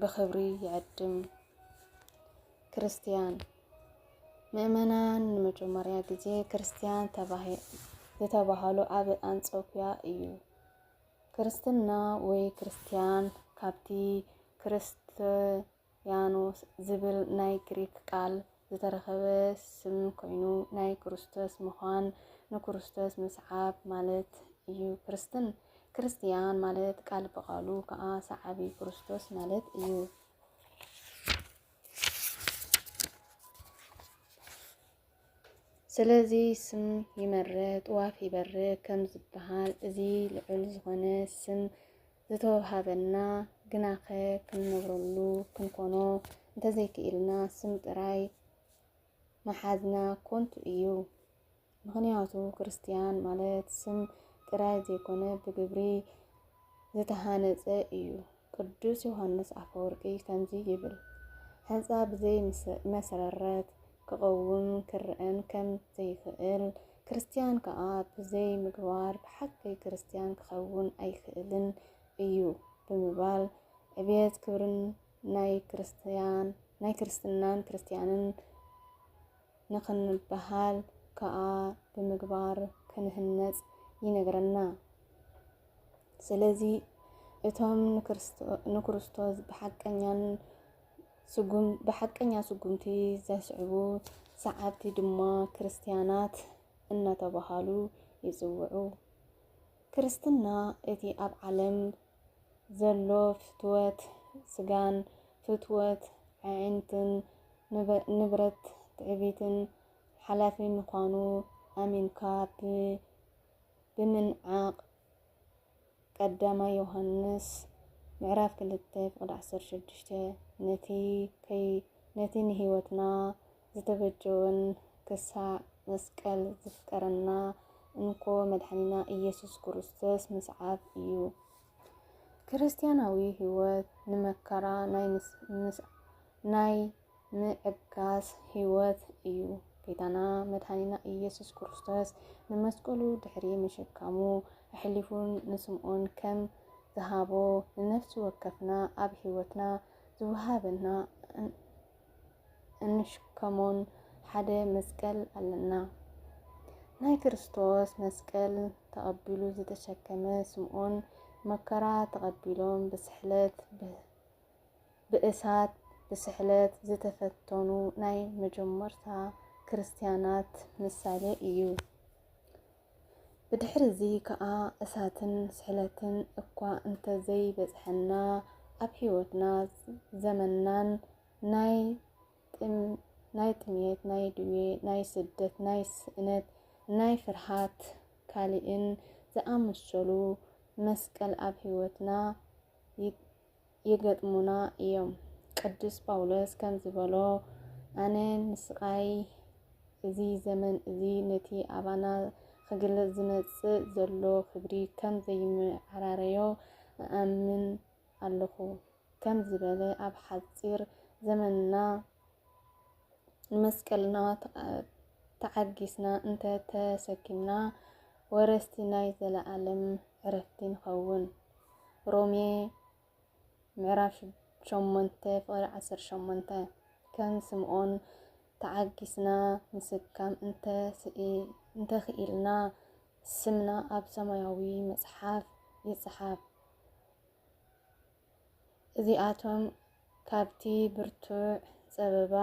ብኽብሪ ይዕድም። ክርስትያን ምእመናን ንመጀመርያ ግዜ ክርስትያን ዝተባህሉ ኣብ ኣንጾኪያ እዩ። ክርስትና ወይ ክርስትያን ካብቲ ክርስትያኖስ ዝብል ናይ ግሪክ ቃል ዝተረኸበ ስም ኮይኑ ናይ ክርስቶስ ምዃን ንክርስቶስ ምስዓብ ማለት እዩ ክርስትን ክርስትያን ማለት ቃል ብቓሉ ከዓ ሰዓቢ ክርስቶስ ማለት እዩ። ስለዚ ስም ይመርህ ጥዋፍ ይበርህ ከም ዝበሃል እዚ ልዑል ዝኾነ ስም ዝተወሃበና ግናኸ ክንነብረሉ ክንኮኖ እንተዘይክኢልና ስም ጥራይ ምሓዝና ኮንቱ እዩ። ምኽንያቱ ክርስትያን ማለት ስም ጥራይ ዘይኮነ ብግብሪ ዝተሃነጸ እዩ። ቅዱስ ዮሃንስ ኣፈወርቂ ከምዚ ይብል፣ ሕንጻ ብዘይ መሰረረት ክቐውም ክርኣን ከም ዘይክእል፣ ክርስትያን ከኣ ብዘይ ምግባር ብሓቂ ክርስትያን ክኸውን ኣይክእልን እዩ ብምባል ዕብየት ክብርን ናይ ክርስትያን ናይ ክርስትናን ክርስትያንን ንኽንበሃል ከኣ ብምግባር ክንህነጽ ይነግረና። ስለዚ እቶም ንክርስቶስ ብሓቀኛን ስጉም ብሓቀኛ ስጉምቲ ዘስዕቡ ሰዓብቲ ድማ ክርስትያናት እናተባህሉ ይጽውዑ። ክርስትና እቲ ኣብ ዓለም ዘሎ ፍትወት ስጋን ፍትወት ኣዒንትን ንብረት ትዕቢትን ሓላፊ ምዃኑ ኣሚንካ ብምንዓቕ፣ ቀዳማይ ዮሃንስ ምዕራፍ ክልተ ፍቕዲ ዓሰርተ ሽዱሽተ ነቲ ከይ ነቲ ንህይወትና ዝተበጀወን ክሳዕ መስቀል ዘፍቀረና እንኮ መድሓኒና ኢየሱስ ክርስቶስ ምስዓብ እዩ። ክርስትያናዊ ህይወት ንመከራ ናይ ምዕጋስ ሕይወት እዩ። ጌታና መድኃኒና ኢየሱስ ክርስቶስ ንመስቀሉ ድሕሪ ምሽካሙ ኣሕሊፉ ንስምኦን ከም ዝሃቦ ንነፍሲ ወከፍና ኣብ ሕይወትና ዝወሃበና እንሽከሞን ሓደ መስቀል ኣለና። ናይ ክርስቶስ መስቀል ተቐቢሉ ዝተሸከመ ስምኦን መከራ ተቐቢሎም ብስሕለት ብእሳት ብስሕለት ዝተፈተኑ ናይ መጀመርታ ክርስትያናት ምሳሌ እዩ። ብድሕሪ እዚ ከኣ እሳትን ስሕለትን እኳ እንተዘይበጽሐና ኣብ ሕይወትና ዘመናን ናይ ናይ ጥሜት ናይ ድዌ ናይ ስደት ናይ ስእነት ናይ ፍርሃት ካልእን ዝኣመሰሉ መስቀል ኣብ ሕይወትና ይገጥሙና እዮም። ቅዱስ ጳውሎስ ከም ዝበሎ ኣነ ንስቓይ እዚ ዘመን እዚ ነቲ ኣባና ክግለጽ ዝመጽእ ዘሎ ክብሪ ከም ዘይመዓራረዮ እኣምን ኣለኹ ከም ዝበለ ኣብ ሓጺር ዘመንና ንመስቀልና ተዓጊስና እንተ ተሰኪምና ወረስቲ ናይ ዘለኣለም ዕረፍቲ ንኸውን። ሮሜ ምዕራፍ ሸሞንተ ፍቕሪ ዓሰርተ ሸሞንተ ከም ስምዖን ተዓጊስና ምስካም እንተኽኢልና ስምና ኣብ ሰማያዊ መጽሓፍ ይጽሓፍ። እዚኣቶም ካብቲ ብርቱዕ ጸበባ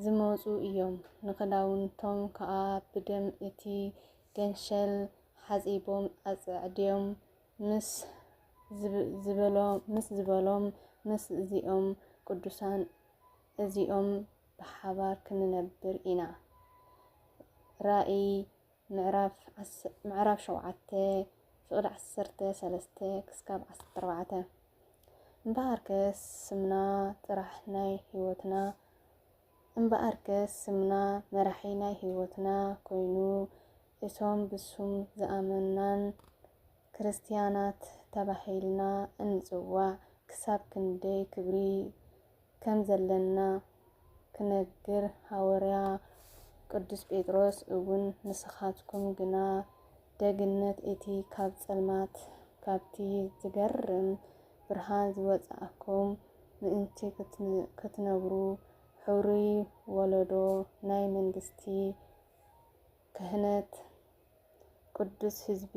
ዝመጹ ኢዮም፣ ንኽዳውንቶም ከኣ ብደም እቲ ገንሸል ሓጺቦም ኣጸዕድዮም ምስ ዝበሎም፣ ምስ እዚኦም ቅዱሳን እዚኦም ብሓባር ክንነብር ኢና። ራእይ ምዕራፍ ምዕራፍ ሸውዓተ ፍቕዲ ዓሰርተ ሰለስተ ክስካብ ዓሰርተ ኣርባዕተ እምበኣርከስ ስምና ጥራሕ ናይ ህይወትና እምበኣርከስ ስምና መራሒ ናይ ህይወትና ኮይኑ እቶም ብሱም ዝኣመናን ክርስትያናት ተባሂልና እንጽዋዕ ክሳብ ክንደይ ክብሪ ከም ዘለና ክነግር ሃወርያ ቅዱስ ጴጥሮስ እውን ንስኻትኩም ግና ደግነት እቲ ካብ ጸልማት ካብቲ ዝገርም ብርሃን ዝወጻእኩም ምእንቲ ክትነብሩ ኅሩይ ወለዶ ናይ መንግሥቲ ክህነት ቅዱስ ሕዝቢ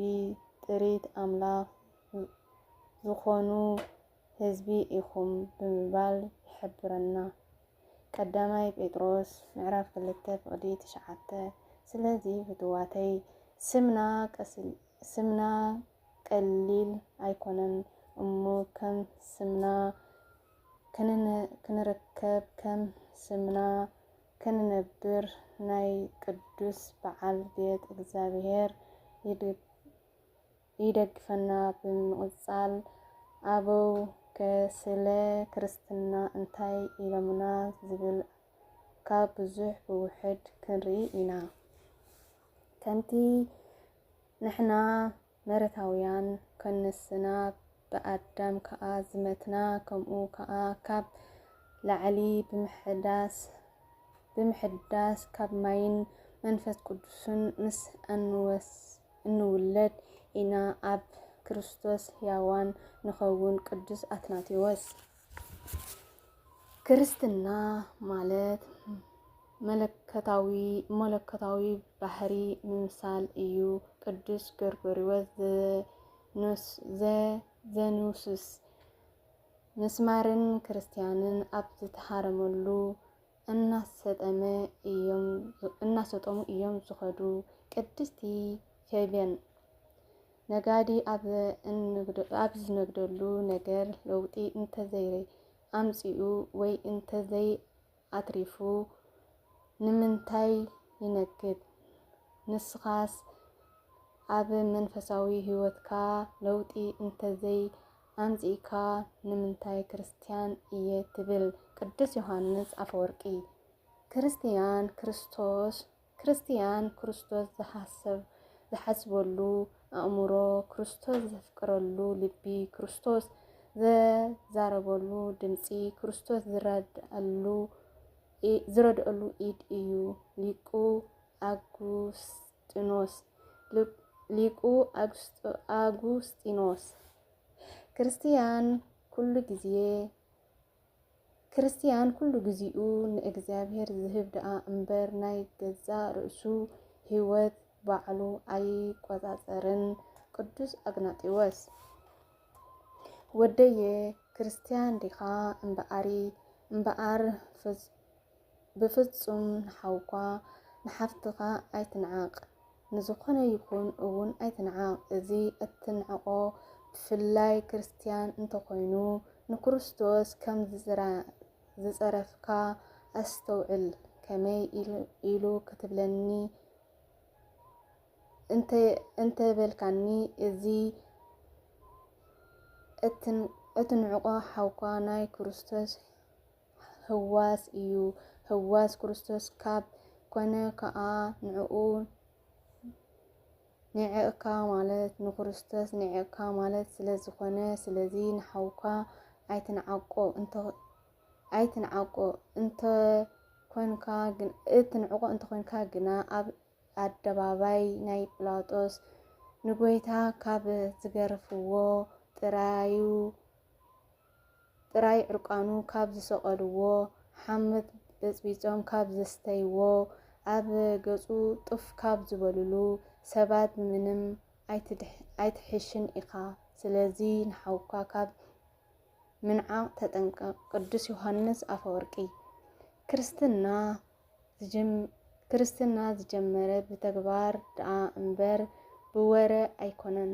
ጥሪት ኣምላኽ ዝኾኑ ህዝቢ ኢኹም ብምባል ይሕብረና ቀዳማይ ጴጥሮስ ምዕራፍ ክልተ ፍቕዲ ትሽዓተ ስለዚ ፍትዋተይ ስምና ቀስል ስምና ቀሊል ኣይኮነን እሞ ከም ስምና ክንርከብ ከም ስምና ክንነብር ናይ ቅዱስ በዓል ቤት እግዚኣብሔር ይድግ ይደግፈና ብምቕጻል ኣበው ከ ስለ ክርስትና እንታይ ኢሎምና ዝብል ካብ ብዙሕ ብውሕድ ክንርኢ ኢና ከምቲ ንሕና መረታውያን ከንስና ብኣዳም ከኣ ዝመትና ከምኡ ከኣ ካብ ላዕሊ ብምሕዳስ ብምሕዳስ ካብ ማይን መንፈስ ቅዱስን ምስ ኣንወስድ እንውለድ ኢና ኣብ ክርስቶስ ሕያዋን ንኸውን ቅዱስ ኣትናቴዎስ። ክርስትና ማለት መለኮታዊ መለኮታዊ ባህሪ ምምሳል እዩ ቅዱስ ጎርጎርዮስ ዘኑስስ ምስማርን ክርስትያንን ኣብ ዝተሃረመሉ እናሰጠመ እዮም እናሰጠሙ እዮም ዝኸዱ ቅድስቲ ፌብየን ነጋዲ ኣብ ዝነግደሉ ነገር ለውጢ እንተዘይ ኣምፂኡ ወይ እንተዘይ ኣትሪፉ ንምንታይ ይነግድ? ንስኻስ ኣብ መንፈሳዊ ህይወትካ ለውጢ እንተዘይ ኣምጺእካ ንምንታይ ክርስትያን እየ ትብል ቅዱስ ዮሃንስ ኣፈወርቂ ክርስትያን ክርስቶስ ክርስትያን ክርስቶስ ዝሓሰብ ዝሓስበሉ ኣእምሮ ክርስቶስ ዘፍቅረሉ ልቢ ክርስቶስ ዘዛረበሉ ድምጺ ክርስቶስ ዝረድኣሉ ዝረድኣሉ ኢድ እዩ ሊቁ ኣጉስጢኖስ ኣጉስጢኖስ፣ ሊቁ ኣጉስጢኖስ፣ ክርስትያን ኩሉ ግዜ ክርስትያን ኩሉ ግዚኡ ንእግዚኣብሔር ዝህብ ደኣ እምበር ናይ ገዛእ ርእሱ ሕይወት ባዕሉ ኣይቆጻጸርን ቅዱስ ኣግናጢዎስ ወደየ ክርስትያን ዲኻ እምበኣሪ እምበኣር ብፍጹም ንሓውካ ንሓፍትኻ ኣይትንዓቕ፣ ንዝኾነ ይኹን እውን ኣይትንዓቕ። እዚ እትንዕቆ ብፍላይ ክርስትያን እንተኾይኑ ንክርስቶስ ከም ዝጸረፍካ ኣስተውዕል። ከመይ ኢሉ ክትብለኒ እንተበልካኒ እዚ እትንዕቆ ሓውካ ናይ ክርስቶስ ህዋስ እዩ። ህዋስ ክርስቶስ ካብ ኮነ ከኣ ንዕኡ ኒዒቕካ ማለት ንክርስቶስ ኒዒቕካ ማለት ስለ ዝኾነ ስለዚ ንሓውካ ኣይትንዓቆ እንተ ኣይትንዓቆ እንተ ኮንካ እትንዕቆ እንተ ኮንካ ግና ኣብ ኣደባባይ ናይ ጲላጦስ ንጎይታ ካብ ዝገርፍዎ ጥራዩ ጥራይ ዕርቃኑ ካብ ዝሰቐልዎ፣ ሓምት በጽቢጾም ካብ ዘስተይዎ፣ ኣብ ገጹ ጡፍ ካብ ዝበሉሉ ሰባት ብምንም ኣይትሕሽን ኢኻ። ስለዚ ንሓውካ ካብ ምንዓቕ ተጠንቀቕ። ቅዱስ ዮሃንስ ኣፈወርቂ። ክርስትና ዝጀመረ ብተግባር ደኣ እምበር ብወረ ኣይኮነን።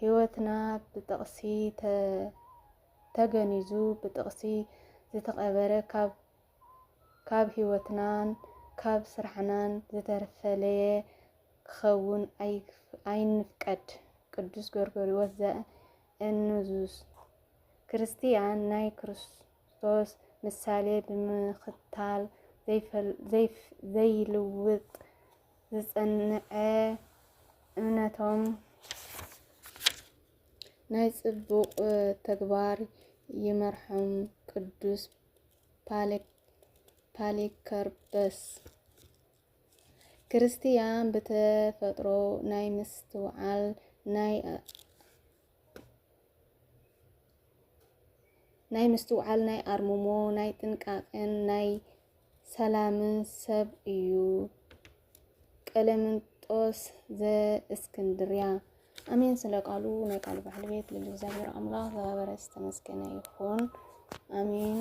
ሕይወትና ብጥቕሲ ተገኒዙ ብጥቕሲ ዝተቐበረ ካብ ካብ ሕይወትናን ካብ ስራሕናን ዝተፈለየ ክኸውን ኣይንፍቀድ ቅዱስ ጎርጎርዮስ ዘእንዙስ ክርስትያን ናይ ክርስቶስ ምሳሌ ብምኽታል ዘይልውጥ ዝጸንዐ እምነቶም ናይ ጽቡቕ ተግባር ይመርሖም ቅዱስ ፓሊከርፐስ ክርስትያን ብተፈጥሮ ናይ ምስትውዓል ናይ ናይ ምስትውዓል ናይ ኣርምሞ ናይ ጥንቃቅን ናይ ሰላምን ሰብ እዩ ቀለምንጦስ ዘእስክንድርያ። ኣሜን ስለ ቃሉ ናይ ቃሉ ባሕሊ ቤት ልል እግዚኣብሔር ኣምላኽ ዘባበረ ዝተመስገነ ይኹን። ኣሜን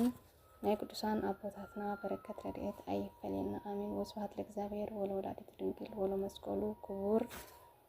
ናይ ቅዱሳን ኣቦታትና በረከት ረድኤት ኣይፈለየና። ኣሜን ወስብሐት ለእግዚኣብሔር ወለወላዲቱ ድንግል ወለመስቀሉ ክቡር